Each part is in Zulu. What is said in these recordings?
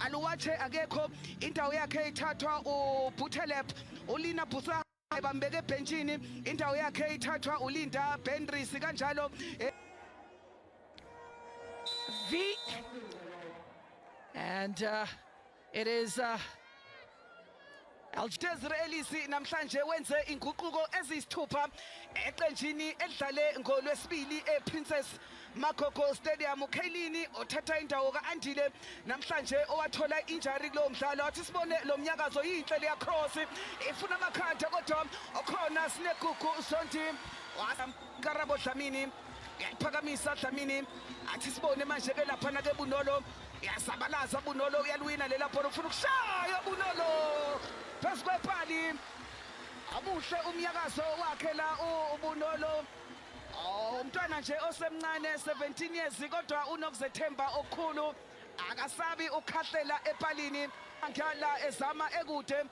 Aluwatshe akekho indawo yakhe ithathwa uButhelep uLina Busa bambeke ebhentshini indawo yakhe ithathwa uLinda Benris kanjalo eh, V and uh, it is uh, Algidezir Elisi namhlanje wenze inguquko eziyisithupha eqenjini elidlale ngolwesibili ePrincess Magogo Stadium uKhaylini othatha indawo ka-Andile namhlanje owathola injari kulowo mdlalo wathi sibone lo mnyakazo yinhle leya cross ifuna amakhanda kodwa okhona sinegugu sonti Karabo Dlamini uyaliphakamisa dlamini athi sibone manje ke laphana ke bunolo uyazabalaza bunolo uyalwina lela bhola ufuna ukushaya bunolo phezu kwepali amuhle umnyakazo wakhe la ubunolo oh, umntwana nje osemncane 17 years kodwa unokuzethemba okukhulu akasabi ukhahlela epalini angala ezama ekude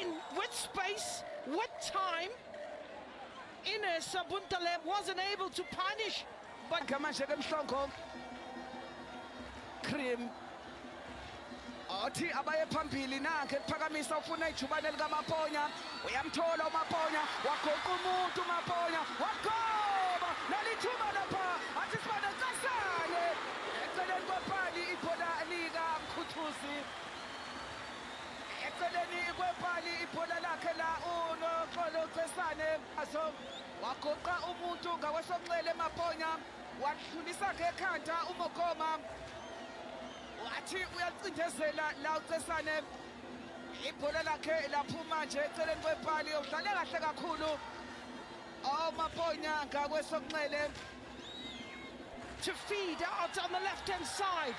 In with space, with time, Ines Sabuntaleb wasn't able to punish. But Kamashek Mhlongo, Cream. athi abaye phambili nakhe kuphakamisa ufuna ijubane likamaponya uyamthola umaponya wagoqa umuntu umaponya wagoba nalithuba lapha athi sibane casane eceleni kwepali ibhola likamkhuthuzi Eceleni kwepali ibhola lakhe la uNoxolo Cesane Mpaso wagoqa umuntu ngakwesokunxele Maponya walidlulisa ngekhanda uMokoma wathi uyacindezela la uCesane ibhola lakhe laphuma nje eceleni kwepali udlale kahle kakhulu oMaponya ngakwesokunxele to feed out on the left hand side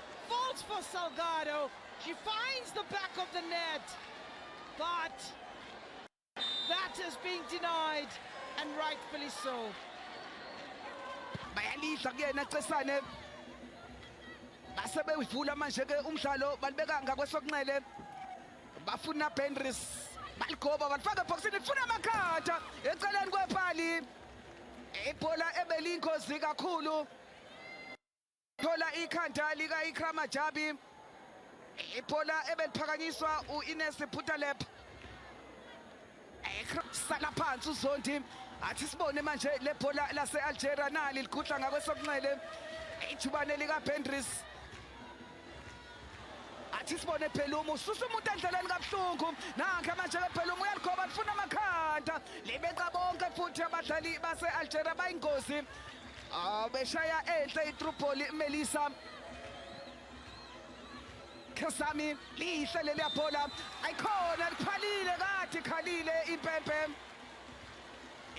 Falls for Salgado. She finds the back of the net. But that is being denied and rightfully so. Bayalidla kuyena Cesane. Base bewuvula manje ke umdlalo balibeka ngakwesokunxele. Bafuna Benris. Baligoba balifaka ebhokisini lifuna amakhatha eceleni kwepali. Ibhola ebelingozi kakhulu. thola ikhanda lika-ikrama jabi ibhola ebeliphakanyiswa u-ines phutalep sala phansi uzondi athi sibone manje le bhola lase-algeria nali ligudla ngakwesokunxele ijubane likabendris athi sibone phelumu ususa umuntu endleleni kabuhlungu nanke manje ke phelumu uyaligoba lifuna amakhanda libeqa bonke futhi abadlali base-algeria bayingozi Beshaya enhle iTripoli Melisa Khasami lihle leli yabhola ayikhona likhalile kathi khalile impempe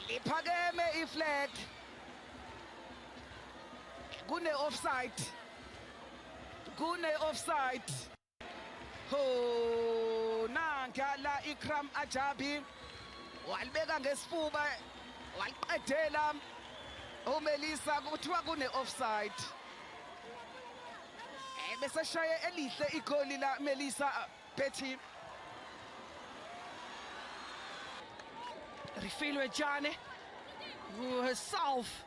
liphakeme iflag kune offside kune offside Ho nanka la Ikram Ajabi walibeka ngesifuba waliqedela uMelisa kuthiwa kune offside eh, bese shaye elihle igoli la Melisa uh, Betty Rifilwe Jane who herself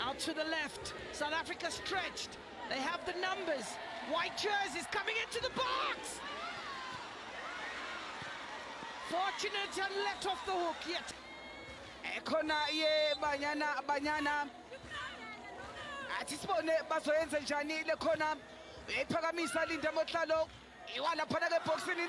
Out to the left. South Africa stretched. They have the numbers. White jerseys coming into the box. Fortunate and let off the hook yet. Ekhona ye banyana banyana. Athi sibone bazoyenza njani le khona. Uyayiphakamisa Linda Motlalo. Iwala phana ke boxini.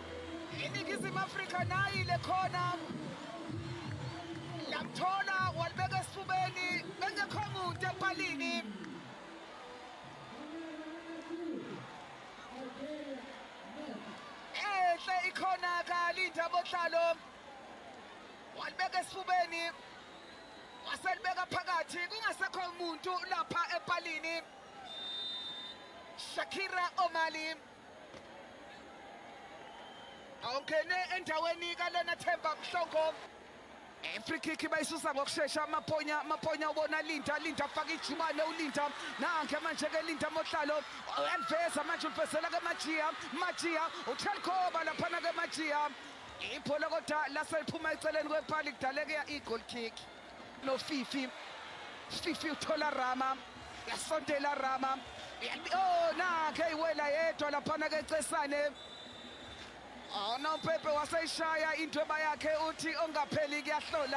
iningizimu afrika nayi le khona lamthola walibeka esifubeni bengekho muntu empalini enhle ikhona kalinda bohlalo walibeka esifubeni waselibeka phakathi kungasekho muntu lapha empalini shakira omali awungene endaweni kalena themba mhlongo free kick bayisusa ngokushesha amaponya amaponya ubona linda linda afaka ijubane ulinda nange manje-ke linda mohlalo eliveza manje ulifezela-ke majiya majiya utelkoba laphana-ke majiya ibhola kodwa laseliphuma eceleni kwepali kudaleke i-goal kick No Fifi. Fifi uthola Rama. Yasondela Rama. Oh nakhe iwela yedwa laphana ke Cesane. Awunompepe waseyishaya into ebayakhe uthi ongapheli kuyahlola